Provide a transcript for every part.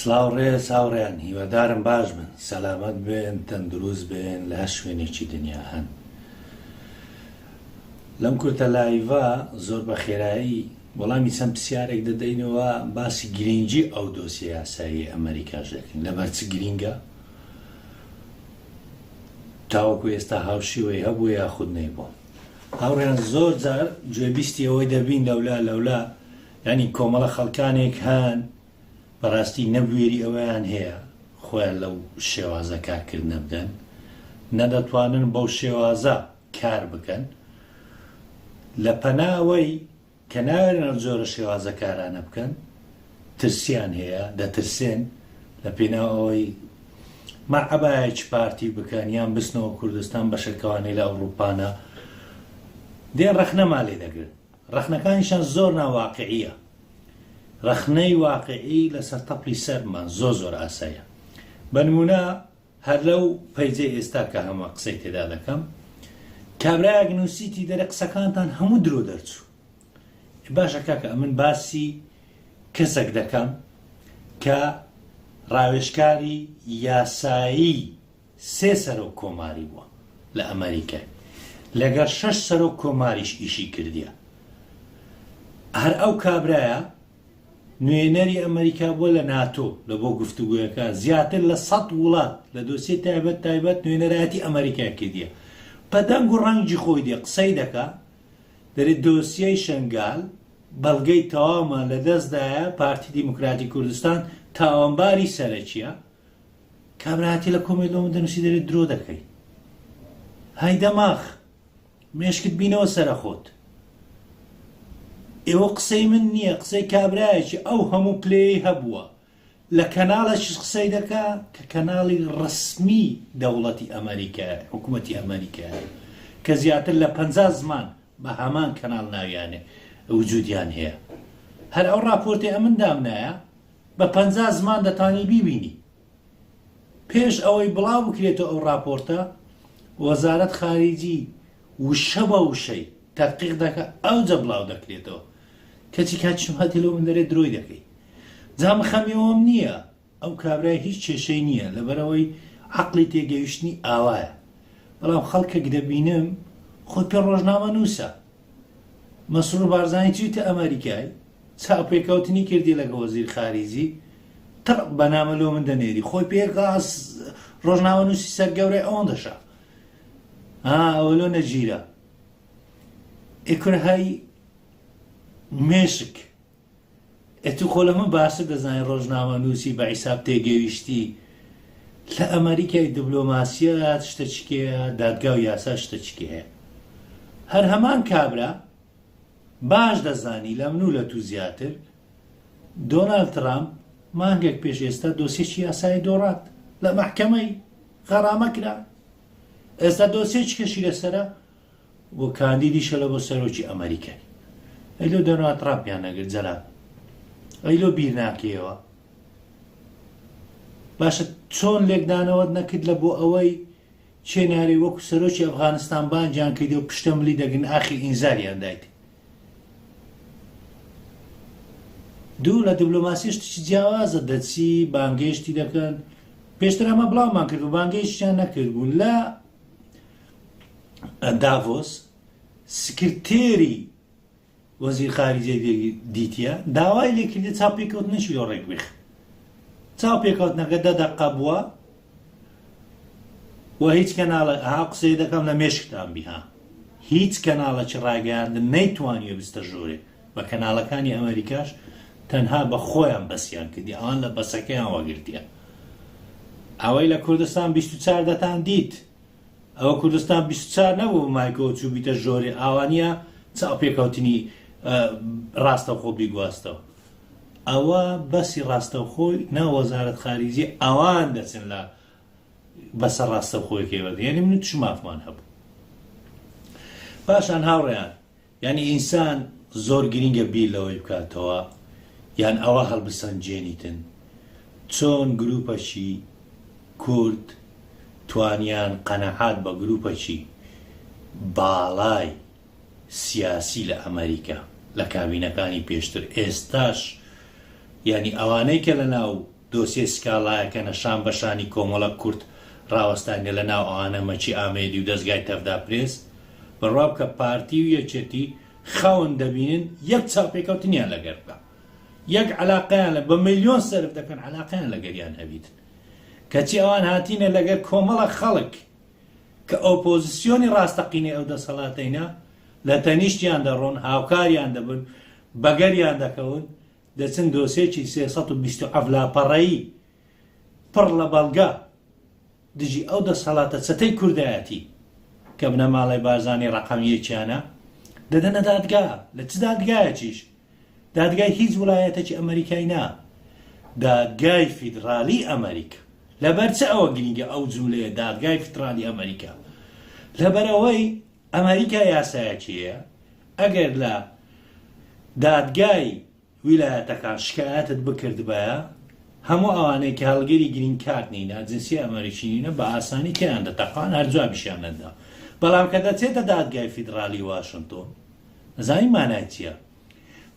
سلااو ڕێ ساوڕێن هیوادارم باش بن سەلامەت بێن تەندروست بێن لە هەر شوێنێکی دنیا هەن لەم کورتە لایڤە زۆر بە خێرایی وەڵامی چەند پرسیارێک دەدەینەوە باسی گرنگی ئەو دۆسی یاسایی ئەمریکاش دەکەین لەبەرچ گرینگە تاوەکو ئێستا هاوشیوەی هەبوو یاخود نەیبوو هاوڕێیان زۆر جار گوێبیستی ئەوەی دەبین لەولا لەولا یانی کۆمەڵە خەڵکانێک هەن بەڕاستی نەبوێری ئەوەیان هەیە خۆیان لەو شێوازە کارکردنە بدەن نەدەتوانن بەو شێوازە کار بکەن لە پەناوەی کە نایەڵن ئەم جۆرە شێوازە کارانە بکەن ترسیان هەیە دەترسێن لە پێناو ئەوەی مە عەبایەکی پارتی بکەن یان بچنەوە کوردستان بە شەکەوانێ لە ئەوروپانە دێن ڕەخنەمان لێ دەگرن ڕەخنەکانیشان زۆر ناواقعیە ڕەخنەی واقعی لەسەر تەپی سەرمان زۆر زۆر ئاسایە بەنمونە هەر لەو پەیجەی ئێستا کە هەمە قسەی تێدا دەکەم کابرایەک نوسیتی دەرێ قسەکانتان هەموو درۆ دەرچوو باشە کاکە ئەمن باسی کەسەک دەکەم کە ڕاوێشکاری یاسایی سێ سەرۆک کۆماری بووە لە ئەمریکای لەگەر شەش سەرۆک کۆماریش ئیشی کردیە هەر ئەو کابرایە نوێنەری ئەمەریکا بووە لە ناتۆ لە بۆ گفتوگۆیەکان زیاتر لە سەد وڵات لە دۆسیە تایبەت تایبەت نوێنەرایەتی ئەمەریکای کردیە بە دەنگ و ڕەنگی خۆی دێ قسەی دەکا دەێت دۆسیەی شنگال بەڵگەی تەوامان لە دەستدایە پارتی دیموکراتی کوردستان تاوانباری سەرەکیە کابراتی لە کۆمێلۆم دەنووسی دەێت درۆ دەکەی های دەماخ مێشکت بینەوە سەرە خۆت. ئێوە قسەی من نیە قسەی کابرایەکی ئەو هەموو پلەیەی هەبووە لە کەناڵەکیش قسەی دەکا کە کەناڵی ڕەسمی دەوڵەتی ئەمەریکایە حکومەتی ئەمەریکایە کە زیاتر لە پەنجا زمان بە هەمان کەناڵ ناویانێ وجودیان هەیە هەر ئەو ڕاپۆرتەی ئەمن دامنایە بە پەنجا زمان دەتانی بیبینی پێش ئەوەی بڵاوبکرێتەوە ئەو ڕاپۆرتە، وەزارەت خاریجی وشە بە وشەی تەدقیق دەکات ئەوجە بڵاودەکرێتەوە. کەچی کاک شەمال دێ لەوە من دەرێ درۆی دەکەی. جا من خەمی ئەوەم نییە ئەو کابرای هیچ کێشەی نییە لەبەرئەوەی عەقڵی تێگەیشتنی ئاوایە. بەڵام خەڵکەک دەبینم خۆی پێ ڕۆژنامەنووسە. مەسرور بارزانی چویتە ئەمەریکای چاوپێکەوتنی کردی لەگە وەزیر خاریجی قڕ بەنامە لۆ من دەنێری خۆی پێرقاس ڕۆژناوە نووسی سەر گەورەی ئەوەن دەشا ئەوە لۆ نەگیرە ئێکرهای مێشک ئێ تو خۆ لەمە باشتر دەزانی ڕۆژنامە نوسی بە عیساب تێگەیشتی لە ئەمەریکای دبلۆماسیەت شتە چکێە دادگاو یاسا شتە چکێە هەر هەمان کابرا باش دەزانی لە منو لە تو زیاتر دۆنال ترامپ مانگێک پێش ئێستا دۆسێکی یاسایی دۆڕات لە مەحکەمەی غەڕامە کرا ئێستا دۆسێکی کەشی لەسرە و کاندیدی شەلە بۆ سەرۆکی ئەمەریکای ئەی لۆ دۆناڵد تڕامپیان نەگرت جەلال ئەی لۆ بیر ناکەیەوە باشە چۆن لێکدانەوەت نەکرد لە بۆ ئەوەی چێ نارێ وەکو سەرۆکی ئەفغانستان بانجان کەیت و پشتە ملی دەگن ئاخی ئینزاریان دایت دوو لە دیبلۆماسی شتێکی جیاوازە دەچی بانگێشتی دەکەن پێشتر ئەمە بڵاومان کرد و بانگێشتیان نەکرد بوو لە داڤۆس، سکرتێری وەزیر خارجیەی دیتیە داوای لێکردە چاوپێکەوتنێکی لۆ ڕێکبخ چاوپێکەوتنەکە دە دەقە بووە و هیچ کەناڵە ها قسەی دەکەم لە مێشکتان بیها هیچ کەناڵەکی ڕاگەیاندن نەیتوانیە بستە ژۆرێ بە کەناڵەکانی ئەمریکاش تەنها بە خۆیان بەسییان کردی ئەوان لە بەسەکەیان وەگرتیە ئەوەی لە کوردستان 24 دەتان دیت ئەوە کوردستان بیست و چوار نەبوو بمایکەوە چووبیتە ژۆرێ ئاوا نیە چاوپێکەوتنی ڕاستەوخۆ بیگواستەوە ئەوە بەسی ڕاستەوخۆی ناو وەزارەت خاریجی ئەوان دەچن لە بەسە ڕاستەوخۆیەکەی وەردێنی من چ مافمان هەبوو پاشان هاوڕێیان یانی ئینسان زۆر گرینگە بیر لەوەی بکاتەوە یان ئەوە هەڵبسەنجێنیتن چۆن گروپەکی کورد توانیان قەناعات بە گروپەکی باڵای سیاسی لە ئەمەریکا لە کابینەکانی پێشتر ئێستاش یانی ئەوانەی کە لە ناو دۆسیەی سکاڵایەکە نە شان بە شانی کۆمەڵە کورد ڕاوەستانیە لە ناو ئەوانە مەکی ئامێدی و دەزگای تەڤدا پرێس، بڕوا بکە پارتی و یەکێتی خەون دەبینن یەک چاوپێکەوتنیان لەگەر بکا یەک عەلاقەیان لە بە ملیۆن سەرف دەکەن عەلاقەیان لەگەریان هەبیت کەچی ئەوان هاتینە لەگەر کۆمەڵە خەڵک کە ئۆپۆزسیۆنی ڕاستەقینەی ئەو دەسەڵاتەینە لە تەنیشتیان دەڕۆن هاوکاریان دەبن بەگەریان دەکەون دەچن دۆسێکی سێ سەد و بیست و حەفت لاپەڕەیی پڕ لە بەڵگە دژی ئەو دەسهەڵاتە چەتەی کوردایەتی کە بنەماڵەی بارزانی ڕەقەم یەکیانە دەدەنە دادگا، لە چ دادگایەکیش؟ دادگای هیچ وڵایەتەکی ئەمەریکای نا، دادگای فیدڕالی ئەمەریکا. لەبەر چ ئەوە گرینگە ئەو جوملەیە دادگای فیدڕالی ئەمەریکا؟ لەبەر ئەوەی. ئەمەریکا یاسایەکێیە ئەگەر لە دادگای ویلایەتەکان شکایەتت بکردبایە هەموو ئەوانەی کە هەڵگری گرین کارت نینە جنسیە ئەمەریکی نینە بە ئاسانی تێیان دەتەقان هەر جوابیشیان نەتدا بەڵام کە دەچێتە دادگای فیدڕالی واشنتۆن ئەزانی مانای چیە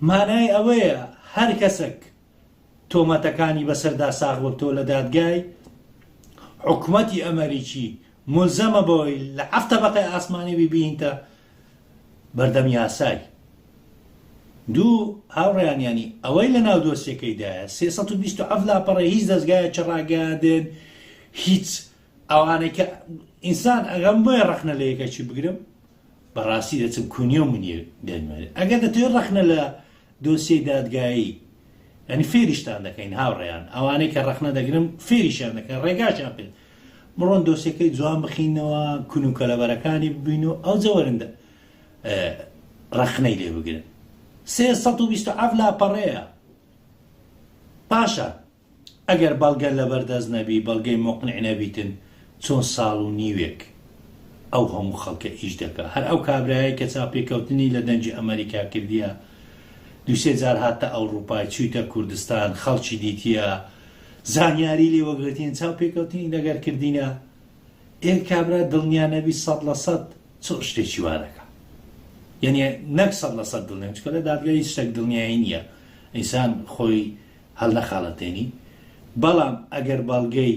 مانای ئەوەیە هەر کەسەک تۆمەتەکانی بەسەردا ساغببتەوە لە دادگای، حکومەتی ئەمەریکی مولزەمە بەوەی لە حەفت تەبەقەی ئاسمانی ببیینتە بەردەم یاسای. دوو، هاوڕێیانیانی ئەوەی لە ناو دۆسیەکەیدایە، سێ سەد و بیست و حەفت لاپەڕەی هیچ دەزگایەکی ڕاگەیاندن، هیچ ئەوانەی کە ئینسان ئەگەم بۆیە ڕەخنە لە یەکەکی بگرم، بەڕاستی دەچم کونیە و منیە دەیمەوێت ئەگەر دەتەوێت ڕەخنە لە دۆسیەی دادگایی یانی فێریشتان دەکەین هاوڕێیان ئەوانەی کە ڕەخنە دەگرم فێریشیان دەکەن ڕێگاشیان پێ بڕۆن دۆسیەکەی جوان بخینەوە کون و کەلەبەرەکانی ببین و ئەو جەوەرندە ڕەخنەی لێ بگرن سێ سەد و بیست و حەفت لاپەڕەیە پاشان ئەگەر بەڵگە لەبەر دەست نەبی بەڵگەی موقنع نەبیتن چۆن ساڵ و نیوێک ئەو هەموو خەڵکە ئیش دەکا هەر ئەو کابرایەی کە چاوپێکەوتنی لە دەنگی ئەمەریکا کردیە دووسێ جار هاتتە ئەوڕوپا چویتە کوردستان خەڵکی دیتیە زانیاری لێ وەگرتین چاوپێکەوتنی لەگەر کردینە ئێ کابرا دڵنیا نەبی سەد لە سەد چ شتێکی وا دەکا یعنی نەک سەد لە سەد دڵنیام چکە لە دادگای هیچ شتێک دڵنیایی نییە ئینسان خۆی هەڵنەخاڵەتێنی، بەڵام ئەگەر بەڵگەی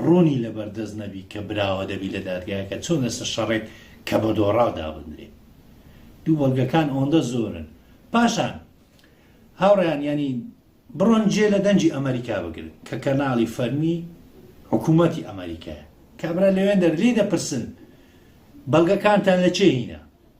ڕوونی لەبەردەست نەبی کە براوە دەبی لە دادگایەکە چۆن لەسەر شەڕێک کە بە دۆڕاو دابندرێ دوو بەڵگەکان ئەوەندە زۆرن پاشان هاوڕێیان یانی بڕۆن جێ لە دەنگی ئەمەریکا بگرن کە کەناڵی فەرمی حکوومەتی ئەمەریکایە کابرا لەوێن دەر لێ دەپرسن بەڵگەکانتان لە چێ هینا؟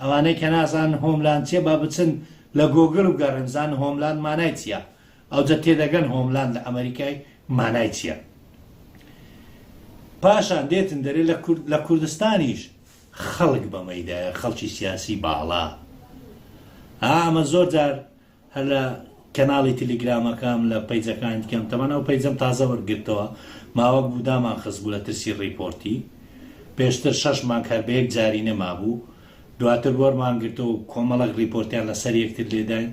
ئەوانەی کە نازانن هۆملاند چیە با بچن لە گۆگل بگەڕێن بزانن هۆملاند مانای چیە ئەوجە تێدەگەن هۆملاند لە ئەمەریکای مانای چیە پاشان دێتن دەرێ لە کورد لە کوردستانیش خەڵک بەمەیدایە خەڵکی سیاسی باڵا ئامە زۆر جار هەر لە کەناڵی تلیگرامەکەم لە پەیجەکانی دیکەم تەمان ئەو پەیجەم تازە وەرگرتەوە ماوەک بوو دامان خست بوو لە ترسی ڕیپۆرتی پێشتر شەش مانگ هەر بەیەک جاری نەمابوو دواتر وەرمان گرتەوە و کۆمەڵەک ڕیپۆرتیان لەسەر یەکتر لێداین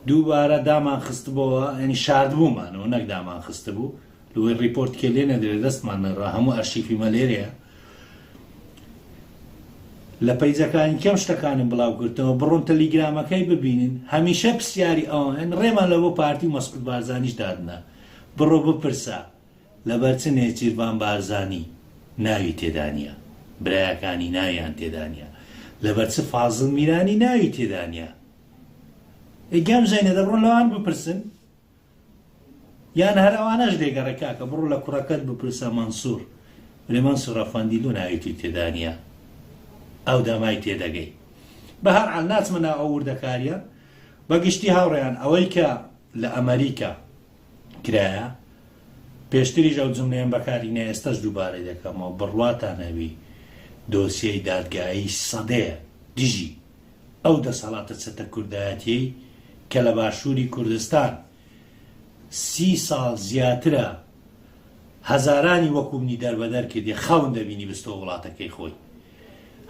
دووبارە دامان خستبەوە یانی شاردبوومانەوە نەک دامان خستبوو لوەی ڕیپۆرت کێ لێ نەدرێ دەستمان نەڕا هەموو ئەرشیفی مە لێرەیە لە پەیجەکانی کەم شتەکانم بڵاو کردەوە بڕۆن تەلیگرامەکەی ببینن هەمیشە پرسیاری ئەوان ڕێمان لە بۆ پارتی و مەسعود بارزانیش دادنا بڕۆ بپرسە لەبەر چ نێچیرڤان بارزانی ناوی تێدانە برایەکانی ناویان تێدانە لەبەر چ فازڵ میرانی ناوی تێدانە ئەی گەمژەینە دەبڕۆن لەوان بپرسن یان هەر ئەوانەش دەیگەڕێ کاکە بڕۆ لە کوڕەکەت بپرسە مەنسور ولی مەنسور ئەفەندی دوو ناوی توی تێدا نیە ئەو دەمای تێدەگەی بە هەر عەل ناچمە ناو ئەو وردەکاریە بە گشتی هاوڕێیان ئەوەی کە لە ئەمەریکا کرایە پێشتریش ئەو جملەیەم بەکاری نە ئێستەش دووبارەی دەکەمەوە بڕواتان هەبی دۆسیەی دادگایی سەدەیە دژی ئەو دەسەڵاتە چەتە کوردایەتیەی کە لە باشوری کوردستان سی ساڵ زیاترە هەزارانی وەکو منی دەربەدەر کردیە خەون دەبینی بستۆ وڵاتەکەی خۆی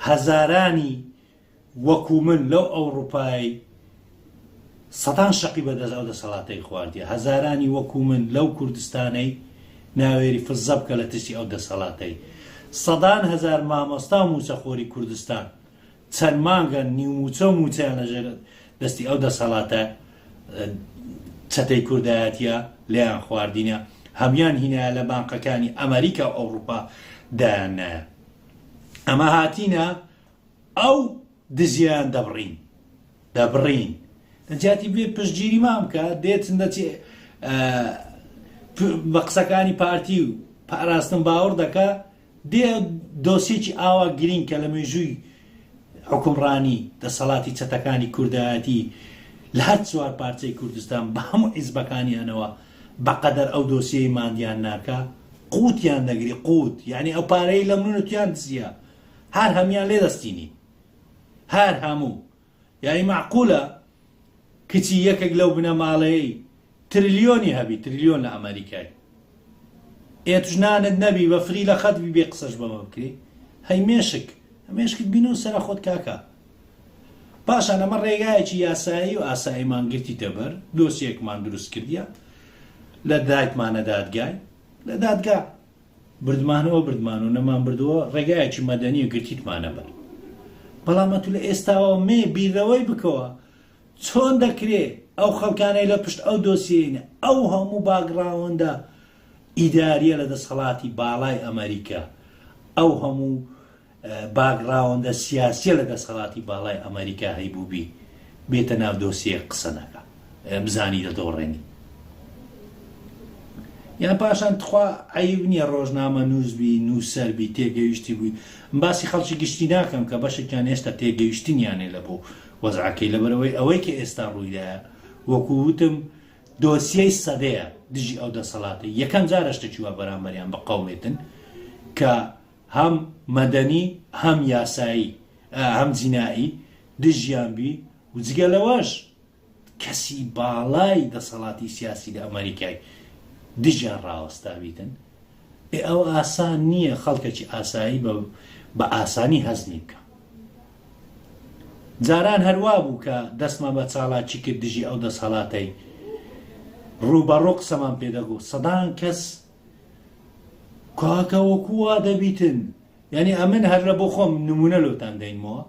هەزارانی وەکو من لەو ئەوڕوپای سەدان شەقی بەدەست ئەو دەسەڵاتەی خواردیە هەزارانی وەکو من لەو کوردستانەی ناوێری فزە بکە لە ترسی ئەو دەسەڵاتەی سەدان هەزار مامۆستا و موچەخۆری کوردستان چەند مانگە نیو مووچە و مووچەیان لە ژێر دەستی ئەو دەسەڵاتە چەتەی کوردایەتیە لێیان خواردینە، هەموویان هینایە لە بانقەکانی ئەمەریکا و ئەوڕوپا دایان نایە. ئەمە هاتینە ئەو دزیەیان دەبڕین، دەبڕین. لە جیاتی بێ پشتگیریمان بکە، دێت دەچێ بە قسەکانی پارتی و پاراستن باوەڕ دەکا، دێ دۆسیەکی ئاوا گرینگ کە لە مێژووی حوکمڕانی، دەسەڵاتی چەتەکانی کوردایەتی لە هەر چوار پارچەی کوردستان بە هەموو حیزبەکانیانەوە بە قەدەر ئەو دۆسیەی ماندیان ناکا، قووتیان دەگری، قووت یانی ئەو پارەی لەمن و تۆیان دزیە، هەر هەموویان لێ دەستینین. هەر هەموو. یانی مەعقولە کچی یەکێک لەو بنەماڵەیەی ترلیۆنی هەبی ترلیۆن لە ئەمەریکای ئێت ژنانت نەبی بە فری لە خەت بی بێ قسەش بەمە بکری هەی مێشک مێشکت بینو سەرە خۆت کاکە پاشان ئەمە ڕێگایەکی یاسایی و ئاساییمان گرتی دەبەر دۆسیەکمان دروست کردە لە دایکمانە دادگای لە دادگا بردمانەوە بردمان و نەمان بردووە ڕێگایەکی مەدەنی و گرتیتمانە بەر بەڵام ئەتوو لە ئێستاوە مێ بیرەوەی بکەوە چۆن دەکرێ ئەو خەڵکانەی لە پشت ئەو دۆسیەینە ئەو هەموو باگڕاوەندە ئیداریە لە دەسەڵاتی باڵای ئەمەریکا ئەو هەموو باکگراوندە سیاسیە لە دەسەڵاتی باڵای ئەمەریکا هەیبوبی بێتە ناو دۆسیەیەک قسە نەکا بزانی دەدۆڕێنی یان پاشان تخوا عیب نییە ڕۆژنامە نووسبی نووسەربی تێگەویشتی بووی باسی خەڵکی گشتی ناکەم کە بەشێکیان هێشتا تێگەویشتنیانێ لە بۆ وەزعەکەی لەبەرەوەی ئەوەی کە ئێستا ڕوویدایە وەکو وتم دۆسیەی سەدەیە دژی ئەو دەسەڵاتە یەکەم جارە شتێکی وا بەرامبەریان بە قەومێتن کە هەم مەدەنی هەم یاسایی هەم جینائی دژیان بی و جگە لەوەش کەسی باڵای دەسەڵاتی سیاسی لە ئەمەریکای دژیان ڕاوەستاویتن ئێ ئەوە ئاسان نییە خەڵکەکی ئاسایی بە بە ئاسانی هەزمی بکە جاران هەروا بوو کە دەستمان بە چاڵاکی کرد دژی ئەو دەسەڵاتەی ڕووبەڕوو قسەمان پێدەگوت سەدان کەس کاکە وەکو وا دەبیتن یعنی ئەمن هەر لە بۆ خۆم نمونە لۆتان دەینمەوە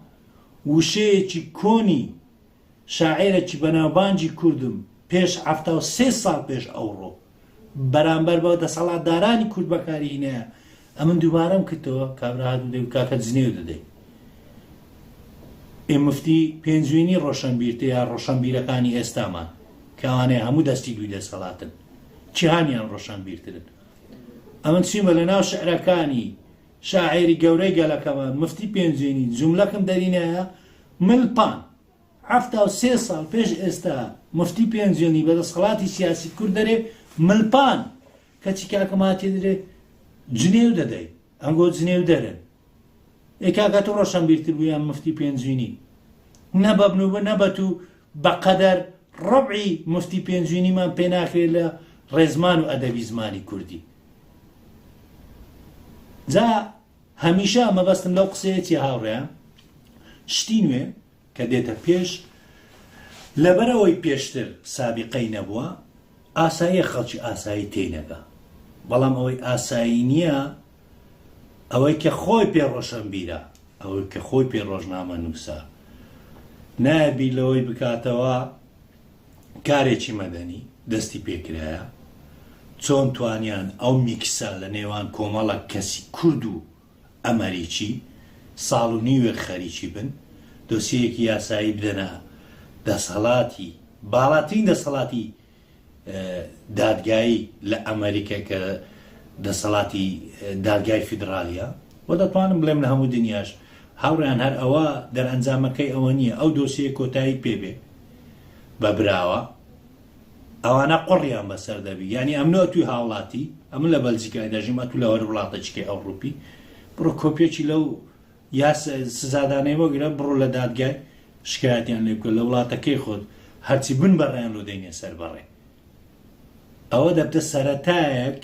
وشەیەکی کۆنی شاعێرەکی بەناوبانگی کوردم پێش هەفتا و سێ ساڵ پێش ئەوڕۆ بەرامبەر بە دەسەڵاتدارانی کورد بەکاری هینەیە ئەمن دووبارەم کردەوە کابرا هاتو دەوت کاکە جنێو دەدەی ئێ مفتی پێنجوینی ڕۆشنبیرتە یا ڕۆشنبیرەکانی ئێستامان کەوانەیە هەموو دەستی دووی دەسەڵاتن جیهانیان ڕۆشنبیرترن. ئەمن چویمە لە ناو شعرەکانی شاعێری گەورەی گەلەکەمان مفتی پێنجوێنی جوملەکم دەرینایە مل پان حەفتا و سێ ساڵ پێش ئێستا مفتی پێنجوێنی بە دەسخڵاتی سیاسی کورد دەرێ مل پان کەچی کاکە ماتی درێ جنێو دەدەی ئەنگۆ جنێو دەرن ئێ کاک ئەتو ڕۆشەنبیرتر بوو یان مفتی پێنجوینی نە بە بن و بە نە بە تو بە قەدەر ڕەبعی مفتی پێنجوینیمان پێ ناکرێ لە ڕێزمان و ئەدەبی زمانی کوردی جا هەمیشە مەبەستم لەو قسەیە چیە هاوڕێیان شتی نوێ کە دێتە پێش لەبەر ئەوەی پێشتر سابیقەی نەبووە ئاساییە خەڵکی ئاسایی تێی نەگا بەڵام ئەوەی ئاسایی نییە ئەوەی کە خۆی پێ ڕۆشنبیرە ئەوەی کە خۆی پێ ڕۆژنامە نووسە نایە بیر لەوەی بکاتەوە کارێکی مەدەنی دەستی پێکرایە چۆن توانیان ئەو میکسە لە نێوان کۆمەڵە کەسی کورد و ئەمەریکی ساڵ و نیوێک خەریکی بن دۆسیەیەکی یاسایی بدەنە دەسەڵاتی باڵاترین دەسەڵاتی دادگایی لە ئەمەریکا کە دەسەڵاتی دادگای فیدراڵیە و دەتوانم بڵێم لە هەموو دنیاش هاوڕیان هەر ئەوە دەرئەنجامەکەی ئەوە نییە ئەو دۆسیە کۆتایی پێبێ بە براوە ئەوانە قوڕیان بەسەر دەبی یانی ئەمن ئەتوی هاوڵاتی ئەمن لە بەلجیکای دەژیم ئەتو لە هەر وڵاتەچکی ئەوڕوپی بڕۆ کۆپیەکی لەو یاس سزادانەی وەگرە بڕۆ لە دادگای شکایەتیان لێ بکە لە وڵاتەکەی خۆت هەرچی بن بەڕێیان لۆ دەینێ سەر بەڕێ ئەوە دەبتە سەرەتایەک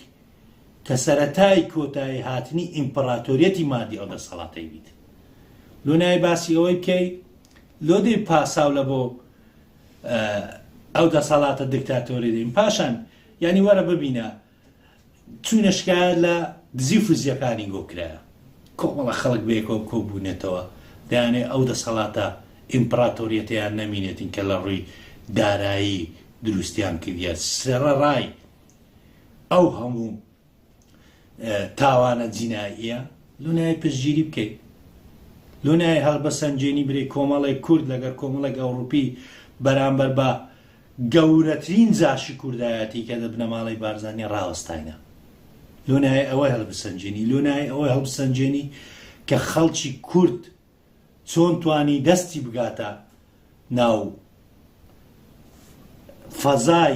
کە سەرەتای کۆتایی هاتنی ئیمپراتۆریەتی مادی ئەو دەسەڵاتەی بیت لۆ نای باسی ئەوەی بکەی لۆ دەی پاساو لە بۆ ئەو دەسەڵاتە دکتاتۆری دەین پاشان یعنی وەرە ببینە چوونە شکایە لە دزی فزیەکانی گۆکرا کۆمەڵە خەڵک بێکەوە کۆبوونێتەوە دەیانێ ئەو دەسەڵاتە ئیمپراتۆریەتیان نەمینێتین کە لە ڕووی دارایی دروستیان کردە سێڕە ڕای ئەو هەموو تاوانە جیناییە لۆنای پشتگیری بکەیت لۆنای هەڵبەسەنجێنی برێ کۆمەڵێک کورد لەگەر کۆمەڵێک ئەوروپی بەرامبەر بە گەورەترین جاشی کوردایەتی کە دە بنەماڵی بارزانانی ڕاوەستاینە لۆنای ئەوەی هەڵبسەنجێنی لۆنای ئەوەی هەڵبسەنجێنی کە خەڵکی کورد چۆن توانی دەستی بگاتە ناو فەزای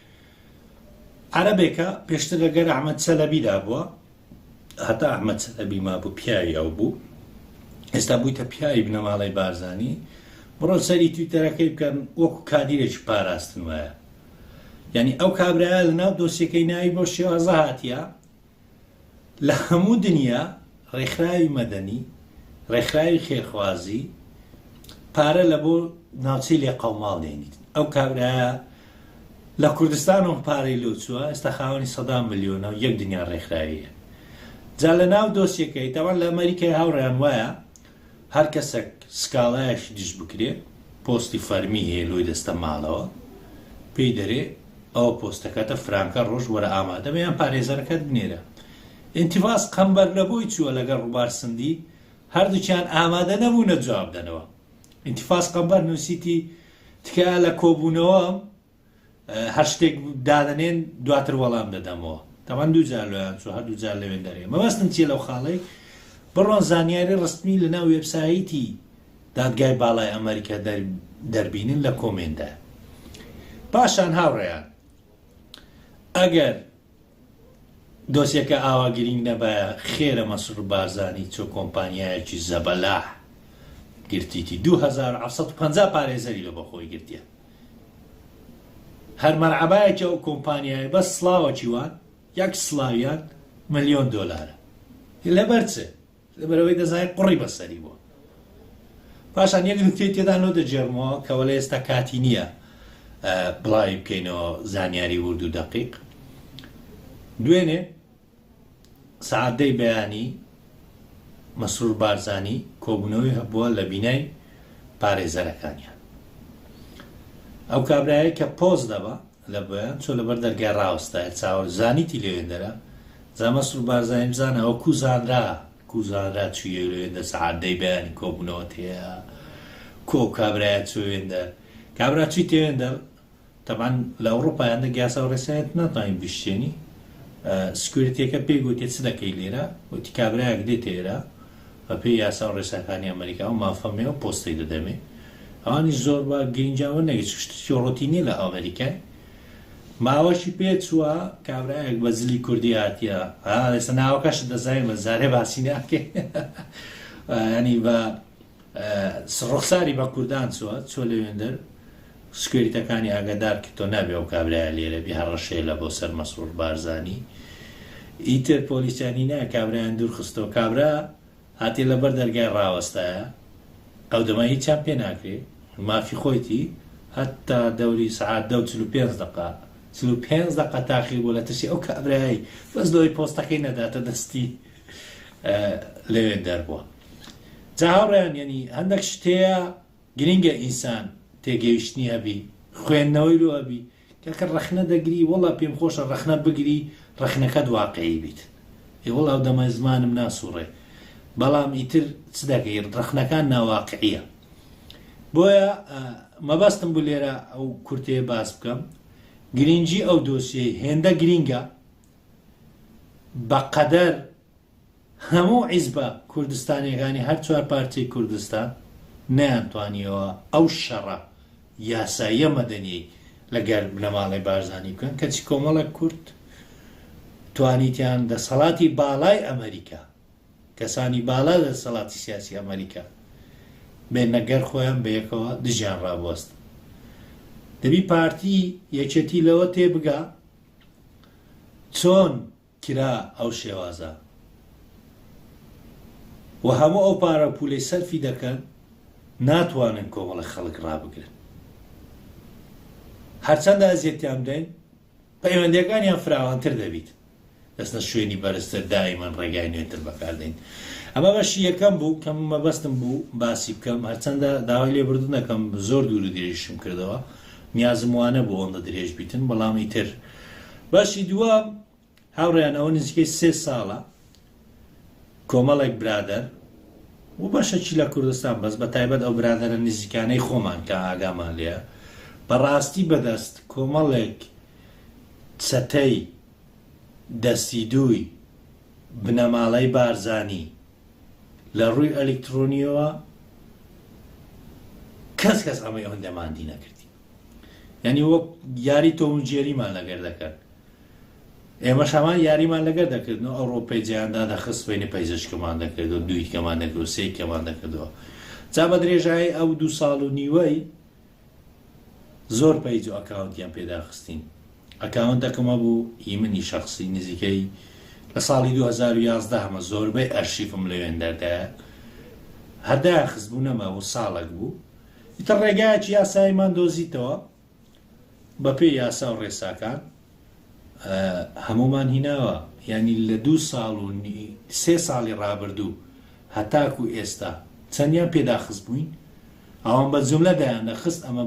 عەرەبێکە پێشتر لەگەر ئەحمەد چەلەبی دابووە هەتا ئەحمەد چەلەبی مابوو پیاوی ئەو بوو ئێستا بوویتە پیاوی بنەماڵەی بارزانی بڕۆن سەری تویتەرەکەی بکەن وەکو کادیرێکی پاراستن وایە یعنی ئەو کابرایە لە ناو دۆسیەکەی ناوی بۆ شێوازە هاتیە لە هەموو دنیا ڕێکخراوی مەدەنی، ڕێکخراوی خێرخوازی پارە لە بۆ ناوچەی لێقەوماڵ دێنیت. ئەو کابرایە لە کوردستان و پارەی لۆ چووە، ئێستا خاوەنی سەدان ملیۆنە و یەک دنیا ڕێکخراویە. جا لە ناو دۆسیەکەی، تەبعەن لە ئەمەریکای هاوڕێیان وایە، هەر کەسەک سکاڵایەکی دژ بکرێ پۆستی فەرمی هەیە لۆی دەستە مالەوە پێی دەرێ ئەوە پۆستەکەتە فرانکە ڕۆژ وەرە ئامادە بە یان پارێزەرەکەت بنێرە ئینتیڤاس قەمبەر لە بۆی چووە لەگەر ڕوبار سندی هەردووکیان ئامادە نەبوونە جواب دەنەوە ئینتیفاس قەمبەر نووسیتی تکایە لە کۆبوونەوەم هەر شتێک دادەنێن دواتر وەڵام دەدەمەوە تاوان دووجار لۆیان چوە هەر دووجار لەوێن دەرێ مەبەستم چیە لەو خاڵەی بڕۆن زانیاری ڕستمی لە ناو وێبسایتی دادگای باڵای ئەمریکا دەربینن لە کۆمێندا پاشان هاوڕێیان ئەگەر دۆسیەکە ئاوا گرینگ نەبایە خێرە مەسرور بارزانی چۆ کۆمپانیایەکی زەبەلاح گرتیتی دوو هەزار و حەفت سەد و پەنجا پارێزەری لە بەخۆی گرتیە هەر مەرعەبایەکی ئەو کۆمپانیایە بەس سڵاوەکی وان یەک سڵاویان ملیۆن دۆلارە لەبەر چ لەبەرئەوەی دەزانێت قوڕی بەسەری بووە. پاشان یەک نکتەی تێدا لۆ دەگێڕمەوە کە وەلێ ئێستا کاتی نییە بڵاوی بکەینەوە زانیاری ورد و دەقیق دوێنێ سعدەی بەیانی مەسرور بارزانی کۆبوونەوەی هەبووە لە بینای پارێزەرەکانیان ئەو کابراەیە کە پۆز دەبە لە بۆیان چۆ لەبەر دەرگای ڕاوەستایە چاوەر زانیتی لەوێندەرە جا مەسرور بارزانی بزانە ئەوە کو زانرا کو زانرا چویە لەوێندەر سەعات دەی بەیانی کۆبونەوە تێیا کو ئەو کابرایە چوە وێندەر کابرا چی تێوێندەر تەبان لە ئەوڕۆپا هەندە گیاسا و ڕێسایەت ناتوانین بشتێنی سکوریتەکە پێی گوتێ چ دەکەی لێرە وتی کابرایەک دێتێرە بە پێی یاسا و ڕێساکانی ئەمەریکا و مافە مێ و پۆستەی دەدەمێ ئەوانیش زۆر با گرینجاوە نەگی چ شتێکی ڕۆتینی لە ئەمەریکای ماوەشی پێ چووە کابراەک بە زلی کوردی هاتیە ئاسە ناوەکەش دەزای بە زارێ باسی ناکێ ینی بە ڕخساری بە کوردان چوە چۆ لەوێندەر سکیۆریتەکانی ئاگادار کە تۆ نابێ ئەو کابرایە لێرە بی هەڕەشەیە لە بۆ سەر مەسرور بارزانی ئیتر پۆلیسیانی نا کابرایان دوور خستەوە کابرا هاتێ لە بەر دەرگای ڕاوەستایە ئەو دەما هیچیان پێ ناکرێ مافی خۆیتی هەتا دەوری سەعات دە و چل و پێنج دەقە چل و پێنج دەقە تاخیر بۆ لە ترسی ئەو کابرای بەس لەوەی پۆستەکەی نەداتە دەستی لەوێ دەربووە جا هاوڕیان یعنی هەندێک شتەیە گرینگە ئینسان تێگەیشتنی هەبی خوێندنەوەی لۆ ئەبی کاکە ڕەخنە دەگری وەڵا پێم خۆشە ڕەخنە بگری ڕەخنەکەت واقعی بیت ئێ وەڵا ئەو دەمە زمانم ناسوڕێ بەڵام ئیتر چ دەکەی ڕەخنەکان ناواقعیە بۆیە مەبەستم بوو لێرە ئەو کورتەیە باس بکەم گرینگی ئەو دۆسیەی هێندە گرینگە بەقەدەر هەموو حیزبە کوردستانیەکانی هەر چوار پارچەی کوردستان نەیانتوانیەوە ئەو شەڕە یاساییە مەدەنیەی لە گەر بنەماڵەی بارزانی بکەن کەچی کۆمەڵێک کورد توانیتیان دەسەڵاتی باڵای ئەمەریکا کەسانی بالا لە دەسەڵاتی سیاسی ئەمەریکا بێنە گەر خۆیان بە یەکەوە دژیان ڕابوەست دەبی پارتی یەکێتی لەوە تێبگا چۆن کرا ئەو شێوازە و هەموو ئەو پارە و پولەی سەرفی دەکەن ناتوانن کۆمەڵە خەڵک ڕابگرن هەرچەندە ئەزیەتیان بدەین پەیوەندەکانیان فراوانتر دەبیت دەستە شوێنی بەرزتر دائیمەن ڕێگای نوێتر بەکاردەین ئەمە بەشی یەکەم بوو کەم مەبەستم بوو باسی بکەم هەرچەندە داوای لێ بردنەکەم زۆر دوور درێژشم کردەوە نیازم وانە بۆ ئەوەندە درێژ بیتن بەڵام ئیتر بەشی دووەم، هاوڕێیان ئەوە نزیکەی سێ ساڵە کۆمەڵێک برادەر و بەشەکی لە کوردستان بەس بە تایبەت ئەو برادەرە نزیکانەی خۆمان کە ئاگامان لێە بەڕاستی بەدەست کۆمەڵێک چەتەی دەستی دووی بنەماڵەی بارزانی لە ڕووی ئەلکترۆنیەوە کەس کەس ئەمەی هەندەماندی نەکردی یانی وەک یاری تۆم و جێریمان لەگەر دەکرد ئێمەش هەمان یاریمان لەگەر دەکردن و ئەوڕۆپەی جیاندا دەخست بینی پەیزشکەمان دەکرد و دویکەمان دەکرد و سیکەمان دەکردەوە جا بە درێژایی ئەو دوو ساڵ و نیوەی زۆر پەیج و ئەکاونتیان پێداخستین ئەکاونتەکەمە بوو هی منی شخصی نزیکەی لە ساڵی 2011 هەمە زۆربەی ئەرشیفم لەوێن دەردایە هەردایان خزبوو نەما و ساڵک بوو ئیتر ڕێگایەکی یاساییمان دۆزیتەوە، بەپێی یاسا و ڕێساکان هەموومان هیناوە، یانی لە دوو ساڵ و سێ ساڵی ڕابردوو هەتاکوو ئێستا چەندیان پێ داخست بووین، ئەوان بە جوملە دایاندەخست، ئەمە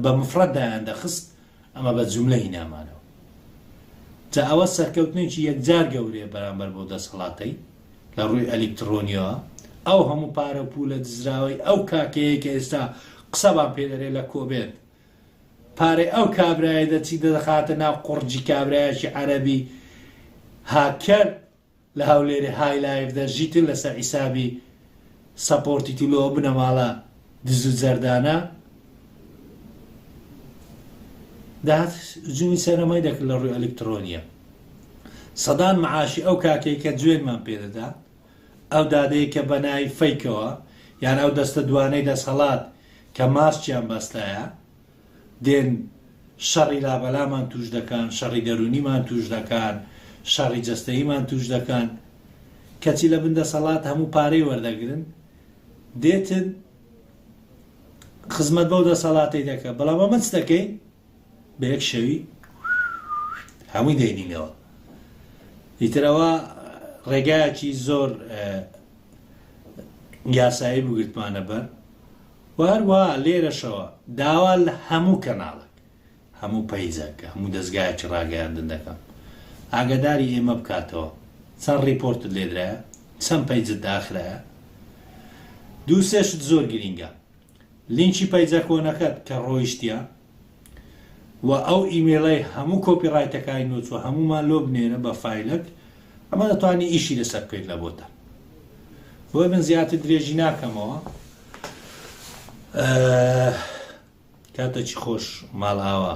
بە مفرەد دایاندەخست، ئەمە بە جوملە هینامانەوە. جا ئەوە سەرکەوتنێکی یەکجار گەورەیە بەرامبەر بەو دەسەڵاتەی. لە ڕووی ئەلیکتڕۆنیەوە ئەو هەموو پارە و پوولە دزراوەی ئەو کاکەیەی کە ئێستا قسەمان پێ دەرێ لە کۆبێت پارەی ئەو کابرایە دەچی دەدەخاتە ناو قڕجی کابرایەکی عەرەبی هاککەر لە هەولێری های لایڤ دەژیتن لەسەر حیسابی سەپۆرتیتی لۆ بنەماڵە دزو جەردانە دەهات جوی سەرەمای دەکرد لە ڕوی ئەلکترۆنیە سەدان معاشی ئەو کاکەی کە جوێنمان پێدەدا ئەو دادەیە کە بەنای فەیکەوە یان ئەو دەستە دوانەی دەسەڵات کە ماسکیان بەستایە دێن شەڕی لابەلامان توش دەکەن شەڕی دەرونیمان توش دەکەن شەڕی جەستەییمان توش دەکەن کەچی لە بن دەسەڵات هەموو پارەی وەردەگرن دێتن خزمەت بەو دەسەڵاتی دەکە بەڵام ئەمە چ دەکەین بە یەک شەوی هەمووی دەینینەوە ئیترەوە ڕێگایەکی زۆر یاسایی بگرتمانە بەر وە هەروەها لێرەشەوە داوا لە هەموو کەناڵێک، هەموو پەیجێک، هەموو دەزگایەکی ڕاگەیاندن دەکەم ئاگاداری ئێمە بکاتەوە چەند ڕیپۆرتت لێدرایە، چەند پەیجت داخرایە، دوو سێ شت زۆر گرینگە لینکی پەیجە کۆنەکەت کە ڕۆیشتیە، وە ئەو ئیمەیڵەی هەموو کۆپی ڕایتەکانی نووتوە هەموومان لۆ بنێرە بە فایلەک ئەمە دەتوانی ئیشی لەسەر بکەیت لە بۆتە بۆی من زیاتر درێژی ناکەمەوە کاتەکی خۆش ماڵ ئاوا